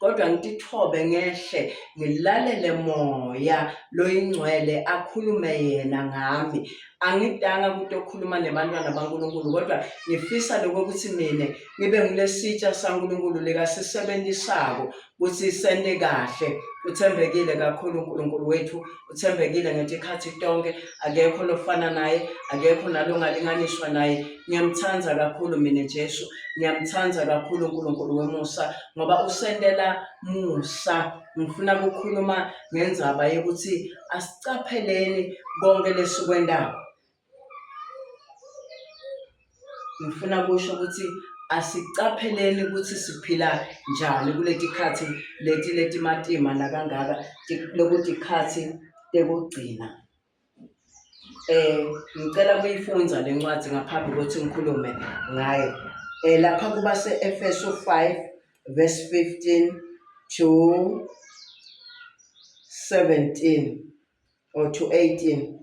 kodwa ngitithobe ngehle ngilalele moya loyingcwele akhulume yena ngami angidanga ukuthi okhuluma nebantwana baNkulunkulu kodwa ngifisa lokho ukuthi mina ngibe ngilesitsha saNkulunkulu likasisebenzisako ukuthi sende kahle uthembekile kakhulu uNkulunkulu wethu uthembekile ngetikhathi tonke akekho lofana naye akekho nalongalinganiswa naye ngiyamthanda kakhulu mina Jesu ngiyamthanda kakhulu uNkulunkulu wemusa ngoba usentela musa ngifuna ukukhuluma ngenzaba yokuthi asicapheleni konke lesikwendayo ngifuna kusho ukuthi asicapheleni ukuthi siphila njani kuleti khathi leti letimatima nakangaka lokuthi khathi tekugcina eh ngicela kuyifundza lencwadi ngaphambi kokuthi ngikhulume ngayo eh lapha kuba seEfeso 5 verse 15 to 17 or to 18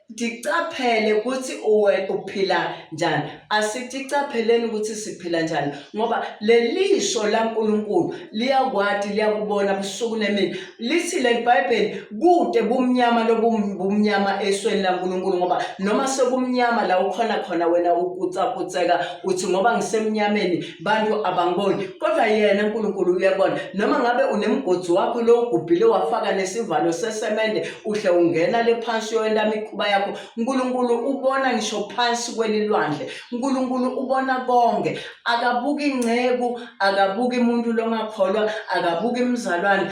ticaphele ukuthi uwe uphila njani asiticaphelen ukuthi siphila njani ngoba lelisho laNkulunkulu liyakwati liyakubona busuku nemini lithi leBhayibheli kude bumnyama lobumnyama esweni laNkulunkulu ngoba noma sekumnyama la ukhona khona wena ukucakuceka uthi ngoba ngisemnyameni bantu abangiboni kodwa yena uNkulunkulu uyabona noma ngabe unemgodzi wakho lo ugubhile wafaka nesivalo sesemende uhle ungena le phansi yoyenta imikhuba yakho uNkulunkulu ubona ngisho phansi kwelilwandle uNkulunkulu ubona konke akabuki inceku akabuki umuntu longakholwa akabuki imizalwane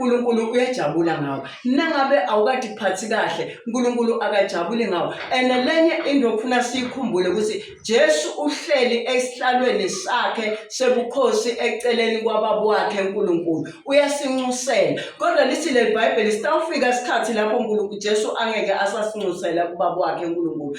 uNkulunkulu uyajabula ngawo nangabe awukade kuphathi kahle uNkulunkulu akajabuli ngawo and lenye into okufuna siyikhumbule ukuthi Jesu uhleli esihlalweni sakhe sebukhosi eceleni kwababa wakhe uNkulunkulu uyasinxusela kodwa lithi le Bible sitawufika isikhathi lapho uNkulunkulu Jesu angeke asasinxusela kubaba wakhe uNkulunkulu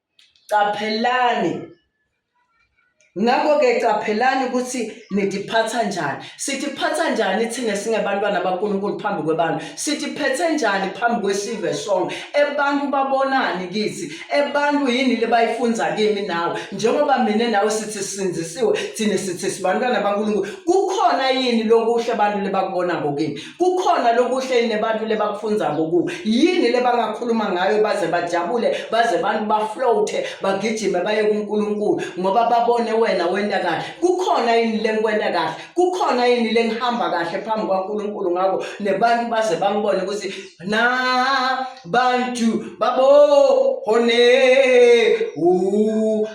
Qaphelani. Ngakho-ke qaphelani ukuthi nidiphatha njani. Sidiphatha njani thina singebantwana baNkulunkulu phambi kwebantu? Sidiphethe njani phambi kwesive sonke? Ebantu babonani kithi? Ebantu yini lebayifunza kimi nawe? Njengoba mina nawe sithi sisinzisiwe, thina sithi sibantwana baNkulunkulu. Kukhona yini lokuhle abantu lebakubona ngokimi? kukhona lokuhle nebantu lebakufunza ngoku yini lebangakhuluma ngayo baze bajabule baze abantu baflote bagijime baye kuNkulunkulu ngoba babone wena wenda kahle kukhona yini lengikwenda kahle kukhona yini lengihamba kahle phambi kwaNkulunkulu ngako nebantu baze bangibone ukuthi na bantu babo hone u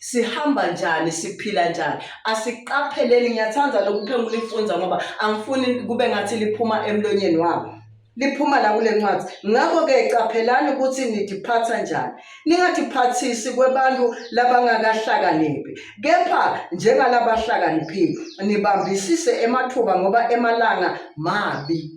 sihamba njani siphila njani asiqapheleni ngiyathanda lokuphengula lifunza ngoba angifuni kube ngathi liphuma emlonyeni wabo liphuma la kule ncwadi ngakho-ke caphelani ukuthi nidiphatha njani ningadiphathisi kwebantu labangakahlakaniphi kepha njengalabahlakaniphile nibambisise emathuba ngoba emalanga mabi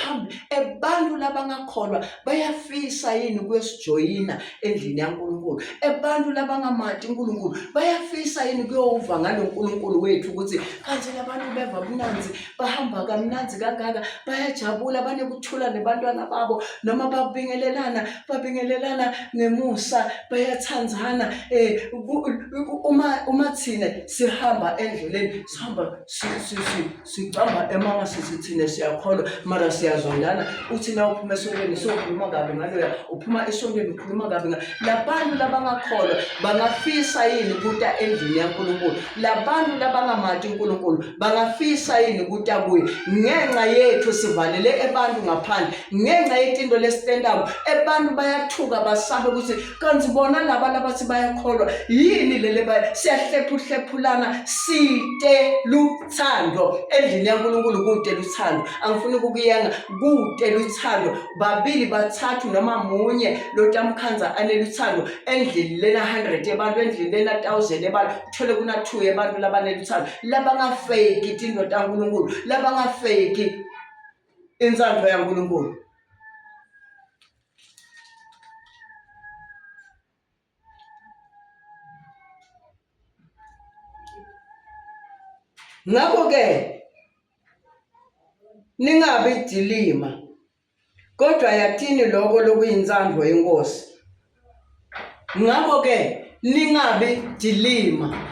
phambi abantu labangakholwa bayafisa yini kuyosijoyina endlini yaNkulunkulu abantu labangamati uNkulunkulu bayafisa yini kuyowuva ngalo nkulunkulu wethu ukuthi kanti labantu beva mnanzi bahamba kamnanzi kangaka bayajabula banekuthula nebantwana babo noma babingelelana babingelelana ngemusa bayathandzana um uma uma thina sihamba endleleni sihamba sicamba emanga sithi thina siyakholwa mara siyazondana uthi na uphuma esontweni sokhuluma kabi ngaloya uphuma esontweni ukhuluma kabi nga labantu labangakholwa bangafisa yini ukuta endlini yaNkulunkulu labantu labangamati uNkulunkulu bangafisa yini ukuta kuye ngenxa yethu sivalele ebantu ngaphandle ngenxa yetinto lesitentako ebantu bayathuka basabe ukuthi kanti bona laba labathi bayakholwa yini lele siyahlephuhlephulana site lu thando endlini yaNkulunkulu kude luthando angifuni ukukuyenga kude luthando babili bathathu noma munye lotamkhanza aneluthando endlini lena 100 abantu endlini lena 1000 abantu uthole kuna 2 abantu labaneluthando labangafeki tindo taNkulunkulu labangafeki insandlo yaNkulunkulu Ngakho-ke ningabi idilima, kodwa yathini lokho lokuyintsandvo yeNkosi. Ngakho-ke ningabi idilima.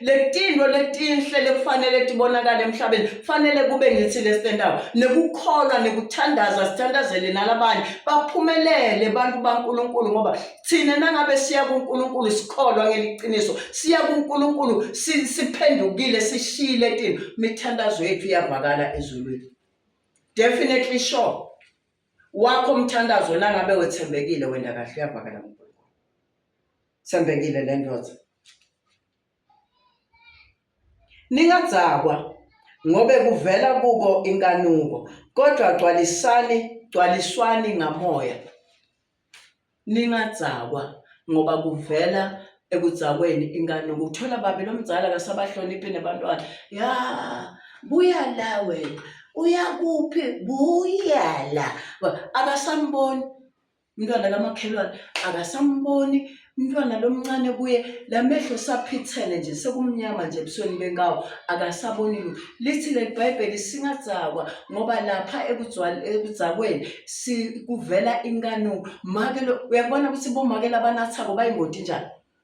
letintfo letinhle lekufanele tibonakale emhlabeni kufanele kube ngitsi lesitentako nekukholwa nekuthandaza sithandazele nalabanye baphumelele bantu bankulunkulu ngoba thina nangabe siya kunkulunkulu sikholwa ngeliciniso siya kunkulunkulu siphendukile sishile tini mithandazo yethu iyavakala ezulwini definitely sure wakho mthandazo nangabe wethembekile wenda kahle uyavakala Sembekile le ndoda. Ningadzakwa ngobe kuvela kubo inkanuko kodwa gcwalisani gcwaliswani ngamoya. Ningadzakwa ngoba kuvela ekudzakweni inkanuko uthola babi lomdzala kasabahloniphi nebantwana ya buya la wena uya kuphi buya la akasamboni umntwana kamakhelwane akasamboni umntwana lomncane kuye lamehlo saphithene nje sekumnyama nje ebusweni benkawo akasaboni lutho lithi leli bhayibheli singadzakwa ngoba lapha ekudzakweni kuvela inkanuko make lo uyakubona ukuthi bomake labanathako bayingoti njani